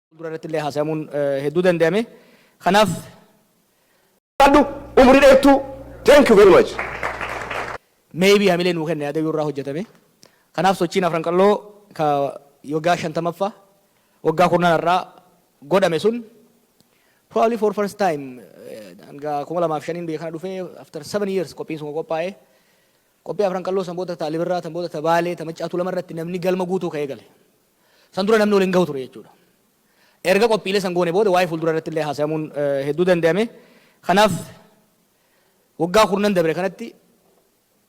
Fuuldura irratti illee haasayamuun hedduu dandayame. Kanaaf. Jiraadhu umrii dheertuu thank you very much. Maybe hamilee nuu kenna yaada yoo irraa hojjatame. Kanaaf sochiin Afran Qalloo ka waggaa 50ffaa waggaa kurnan har'aa godhame sun probably for first time hanga 2005n biyya kana dhufee after 7 years qophiin sun qophaa'e. Qophii Afran Qalloo san booda ta Alibirraa tan booda ta Baalee ta Maccaa Tuulama irratti namni galma guutuu ka'ee gale. San dura namni wal hin gahu ture jechuudha. Erga qophiilee san goone booda waa'ee fuulduraa irratti illee haasayamuun hedduu dandayame. Kanaaf waggaa kurnan dabre kanatti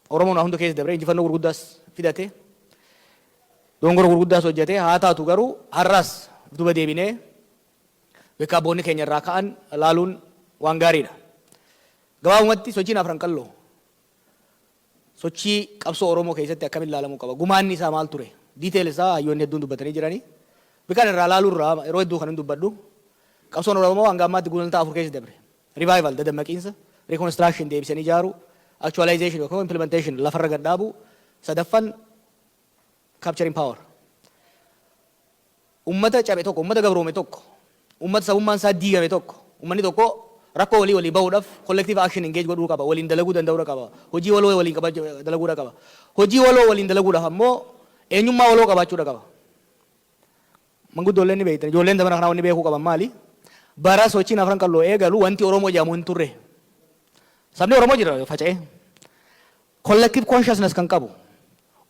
Oromoon waa hunda keessa dabre injifannoo gurguddaas fidate. Dongora gurguddaas hojjete. Haa taatu garuu har'aas duba deebinee bakka abboonni keenya irraa ka'an laaluun waan gaariidha. Gabaabumatti sochiin afran qalloo Sochii qabsoo Oromoo keessatti akkamitti laalamuu qaba? Gumaanni isaa maal ture? Detail isaa hayyoonni hedduun dubbatanii jirani. Mee kan irraa laaluu irraa yeroo hedduu kanan dubbadhu qabsoon Oromoo hanga ammaatti gulantaa afur keessa dabre. Revival, dadammaqiinsa, reconstruction, deebisanii ijaaruu, actualization yookiin immoo implementation, lafarra gad dhaabuu, sadaffan capturing power. Ummata cabe tokko, ummata gabroome tokko, ummata sabummaan isaa diigame tokko, ummanni tokko rakkoo walii walii bahuudhaf collective action engage godhuu qaba, waliin dalaguu danda'uudha qaba, hojii waloo waliin qabaachu dalaguudha qaba. Hojii waloo waliin dalaguudhaf ammoo eenyummaa waloo qabaachuudha qaba. Manguddoolleen ni beektan, ijoolleen zamana kanaa wanni beekuu qaban maali? Bara sochiin Afran Qalloo eegalu wanti Oromoo jedhamu hin turre. Sabni Oromoo jira faca'ee. Collective consciousness kan qabu,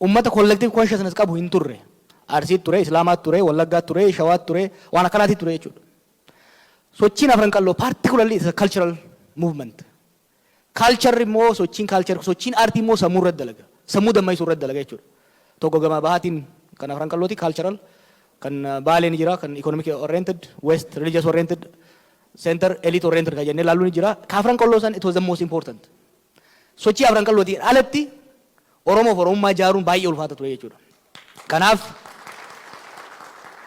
ummata collective consciousness qabu hin turre. Arsiitti ture, Islaamaatti ture, Wallaggaatti ture, Shawaatti ture, waan akkanaatti ture jechuudha. Sochiin Afran Qalloo particularly is a cultural movement. Culture immoo sochiin culture sochiin aartii immoo sammuu irratti dalaga. Sammuu damma'isu irratti dalaga jechuudha. Tokko gama bahaatiin kan afran qallooti cultural kan baalee ni jira kan economic oriented west religious oriented center elite oriented kan jennee ilaallu ni jira. Ka afran qalloo san it was the most important. Sochii afran qallootiin alatti Oromoof Oromummaa ijaaruun baay'ee ulfaata ture jechuudha. Kanaaf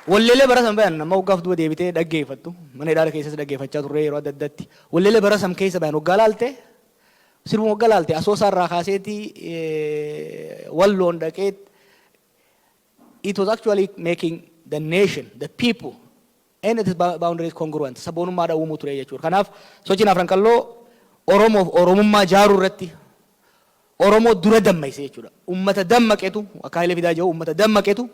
walleelee bara san bayan amma waggaaf duuba deebitee dhaggeeffattu mana hidhaala keessas dhaggeeffachaa turree yeroo adda addatti walleelee bara san keessa bayan waggaa laalte sirbuma waggaa laalte asoosaa irraa kaaseeti walloon dhaqeet it was actually making the nation, the people and its boundaries congruent sabboonummaa dhawwumuu ture jechuudha. Kanaaf sochiin Afran Qalloo Oromoof Oromummaa jaaruu irratti Oromoo dura dammayse jechuudha. Ummata dammaqetu akka Hayilee Fidaa jedhu ummata dammaqetu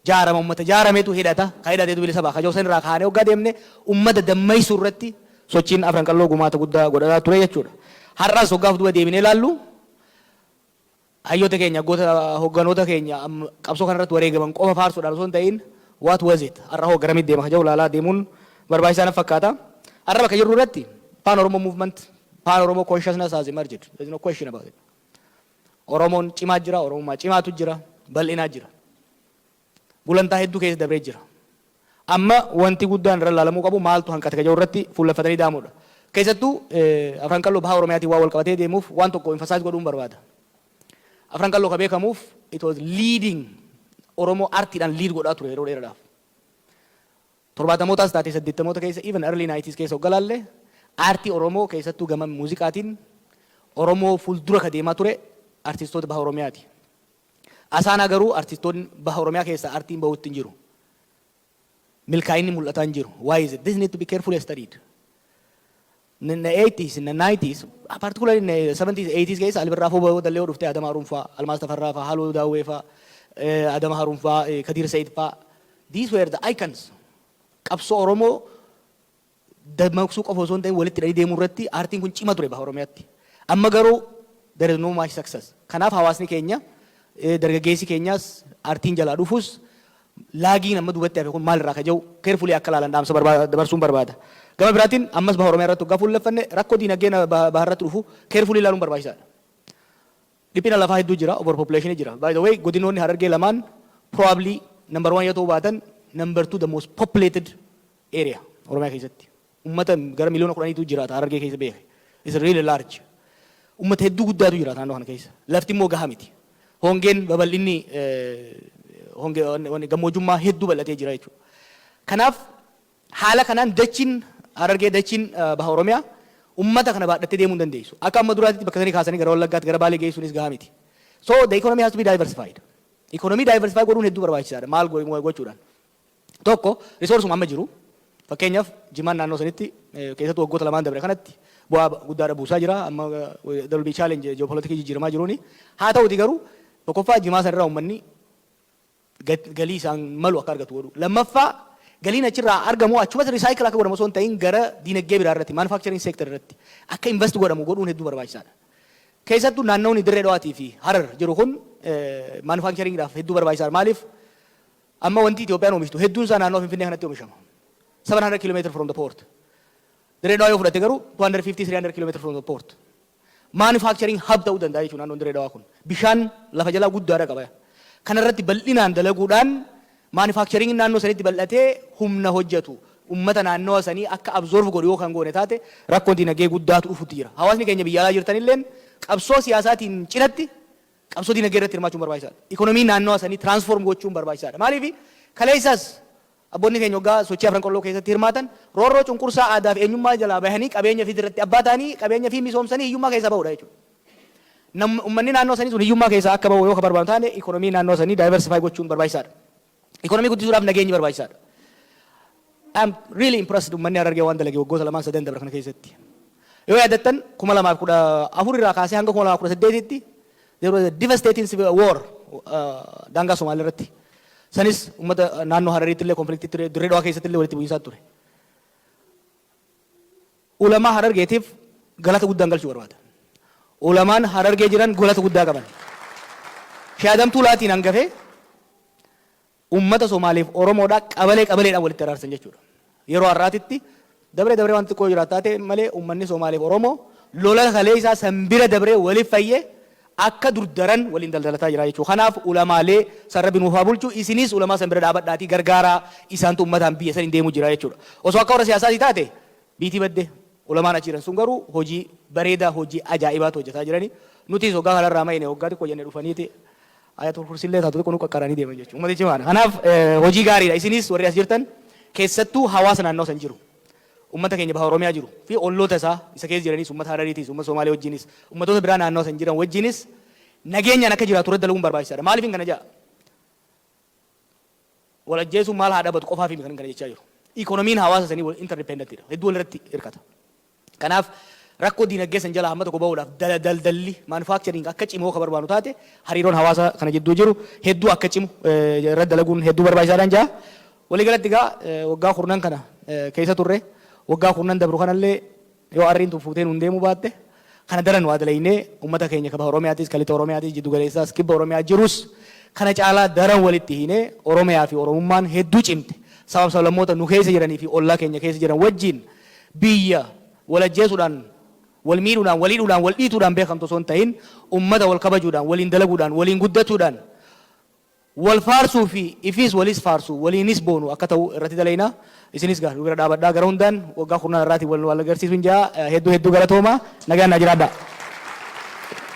jaarama, ummata jaarametu hidhata, ka hidhatetu bilisa baha. Ka Jawsan irraa kaanee hoggaa deemne ummata dammaysuu irratti sochiin Afran Qalloo gumaata guddaa godhataa ture jechuudha. Har'as hoggaa of duuba deebinee ilaallu, Hayyoota keenya, hogganoota keenya qabsoo kana irratti wareegaman qofa faarsuudhaan osoo hin ta'iin what was it? Har'a hoo garamitti deema kan jedhu ilaalaa deemuun barbaachisaa natti fakkaata. Har'a bakka jirru irratti Pan Oromo Movement, Pan Oromo Consciousness has emerged. There is no question about it. Oromoon cimaa jira, Oromummaa cimaatu jira, bal'inaa jira. gulantaa hedduu keessa dabree jira. Amma wanti guddaan irra ilaalamuu qabu maaltu hanqate ka jedhu irratti fuulleffatanii daamuu dha. Keessattuu Afran Qalloo Baha Oromiyaatiin waan walqabatee deemuuf waan tokko emphasize godhuun barbaada. Afran Qalloo ka beekamuuf it was leading Oromoo artiidhaan lead godhaa ture yeroo dheeraadhaaf. Torbaatamootaas taatee saddeettamoota keessa even early 90s keessa hogga ilaalle aartii Oromoo keessattuu gama muuziqaatiin Oromoo fuuldura ka deemaa ture artistoota Baha Oromiyaati. Asaanaa garuu artistoonni baha Oromiyaa keessaa artiin bahuutti hin jiru. Milkaa'inni mul'ataa hin jiru. Why is it? This need to be carefully studied. In the 80s, in the 90s, particularly in the 70s, 80s keessa Albirraa Foo Bawoo Dallee dhuftee Adama Haruun faa, Almaas Tafarraa faa, Haaloo Daawwee faa, Adama Haruun faa, Kadiir Sayid faa. These were the icons. Qabsoo Oromoo dammaqsuu qofa osoo hin ta'in walitti hidhanii deemuu irratti aartiin kun cima ture Baha Oromiyaatti. Amma garuu there is no much success. Kanaaf hawaasni keenya dargaggeessi keenyaas aartiin jalaa dhufus laagiin amma duubatti hafe kun maal irraa akka jedhu carefully akka ilaalan dhaamsa dabarsuun barbaada. Gama biraatiin ammas Baha Oromiyaa irratti hoggaa fuulleffanne rakkoo diinagdee Baha irratti dhufu carefully ilaaluun barbaachisaadha. Dhiphina lafaa hedduu jira, over population jira. By the way godinoonni Harargee lamaan probably number one yoo ta'uu baatan number two the most populated area Oromiyaa keessatti. Ummata gara miliyoona kudhaniitu jiraata Harargee keessa beeki. It's really large. Ummata hedduu guddaatu jiraata naannoo kana keessa. Lafti immoo gahaa miti. Hongeen babal'inni hongee wanni gammoojummaa hedduu bal'atee jira jechuudha. Kanaaf Haala kanaan dachiin Harargee, dachiin Baha Oromiyaa ummata kana baadhattee deemuu hin dandeessu. Akka amma duraatitti bakka sanii kaasanii gara Wallaggaatti, gara Baalee geessuunis gahaa miti. So the economy has to be diversified. Economy diversify godhuun hedduu barbaachisaadha. Maal gochuudhaan? Tokko resourcuma amma jiru. Fakkeenyaaf Jimaan naannoo sanitti keessattuu waggoota lamaan dabre kanatti bu'aa guddaadha buusaa jira. Amma there will be challenge geopolitics jijjiiramaa jiruuni. Haa ta'uuti garuu tokkoffaa Jimaa sanirraa ummanni galii isaan malu akka argatu godhuu. Lammaffaa galiin achirraa argamu achumatti recycle akka godhamu osoo hin ta'in gara diinagdee biraa irratti manufacturing sector irratti akka invest godhamu godhuun hedduu barbaachisaadha. Keessattuu naannawni Dirree Dhawaatii fi Harar jiru kun manufacturing dhaaf hedduu barbaachisaadha. Maaliif amma wanti Itoophiyaan oomishtu hedduun isaa naannoo Finfinnee kanatti oomishama. 700 kilometer from the port. Dirree Dhawaa yoo fudhatte garuu 250-300 kilometer from the port. manufacturing hub ta'uu danda'a jechuudha naannoon Dirree Dhawaa kun. Bishaan lafa jalaa guddaadha qaba. Kana irratti bal'inaan dalaguudhaan manufacturing naannoo sanitti bal'atee humna hojjetu ummata naannawa sanii akka absorb godhu yoo kan goone taate rakkoon dinagdee guddaatu dhufutti jira. Hawaasni keenya biyya alaa jirtan illeen qabsoo siyaasaatiin cinatti qabsoo dinagdee irratti hirmaachuun barbaachisaadha. Economy naannawa sanii transform gochuun barbaachisaadha. Maaliif kaleessas Abboonni keenya oggaa sochii Afran Qalloo keessatti hirmaatan roorroo cunqursaa aadaafi eenyummaa jalaa bahanii qabeenya fi irratti abbaa ta'anii qabeenya fi misoomsanii hiyyummaa keessaa bahuudha jechuudha. Nam, ummanni naannoo sanii sun hiyyummaa keessaa akka bahu yoo ka barbaadnu taane economy naannoo sanii diversify gochuun barbaachisaadha. Economy guddisuudhaaf nageenyi barbaachisaadha. I am really impressed ummanni Harargee waan dalage waggoota lamaan sadan dabre kana keessatti. Yoo yaadattan 2014 irraa kaasee hanga 2018tti There was a devastating civil war daangaa Somaalee irratti. Sanis uummata naannoo Harariitti illee konfliktii ture, Dirree Dhawaa keessatti illee walitti bu'iinsaa ture. Ulamaa Harargeetiif galata guddaan galchuu barbaada. Ulamaan Harargee jiran galata guddaa qaban. Shaadamtuu laatiin hangafee Uummata Somaalee fi Oromoodhaa qabalee qabaleedhaan walitti araarsan jechuudha. Yeroo har'aatitti dabree dabree wanti xiqqoo jiraata haa ta'e malee uummanni Somaalee fi Oromoo lola kaleessaa san bira dabree waliif fayyee akka dur daran waliin daldalataa jira jechuudha. Kanaaf ulamaalee san Rabbi nuuf haa bulchu isiniis ulamaa san bira dhaabadhaatii gargaaraa isaantu uummataan biyya saniin deemuu jira jechuudha. Osoo akka warra siyaasaatii taate biitii badde. Ulamaan achi jiran sun garuu hojii bareedaa hojii ajaa'ibaatu hojjataa jirani. Nutiis hoggaa kanarraa mayine hoggaa xiqqoo jenne dhufaniiti Aayatul Kursiillee taatu xiqqoo nu qaqqaranii deeman jechuudha. Ummati cimaadha. Kanaaf hojii gaariidha. Isinis warri as jirtan keessattuu hawaasa naannawa san jiru, ummata keenya baha Oromiyaa jiru fi olloota isaa isa keessa jiranis ummata Harariitiis, ummata Somaalee wajjiinis, ummatoota biraa naannawa san jiran wajjiinis nageenyaan akka jiraatu irratti dalaguun barbaachisaadha. Maaliifin kana jedha? Wal ajjeesuun maal haa dhabatu qofaafii miti kanin kana jechaa jiru. Economy-n hawaasa sanii interdependent dha. Hedduu walirratti hirkata. Kanaaf, rakkoo diinagdee san jalaa hamma tokko bahuudhaaf daldalli, manufacturing, akka cimoo ka barbaannu taate hariiroon hawaasa kana jidduu jiru hedduu akka cimu irratti dalaguun hedduu barbaachisaadhaan ja'a. Walii galatti egaa waggaa kurnan kana keessa turre. Waggaa kurnan dabru kanallee yoo arriin tun fuutee nuun deemuu baatte kana daran waa dalaynee ummata keenya ka Baha Oromiyaatis, ka Lixa Oromiyaatis, Jiddu Galeessaas, Kibba Oromiyaa jirus kana caalaa daran walitti hiinee Oromiyaa fi Oromummaan hedduu cimte sabaf sablammoota nu keessa jiranii fi ollaa keenya keessa jiran wajjiin Biyya wal ajjeesuudhaan, wal miidhuudhaan, wal hidhuudhaan, wal dhiituudhaan beekamtu osoo hin ta'iin ummata wal kabajuudhaan, waliin dalaguudhaan, waliin guddachuudhaan, wal faarsuu fi ifiis waliis faarsu, waliinis boonu akka ta'u irratti dalayna. Isinis egaa nu bira dhaabadhaa gara hundaan waggaa kurnaan har'aatiin wal nu wal agarsiisuun jedha. Hedduu hedduu galatoomaa. Nagaan naa jiraadhaa.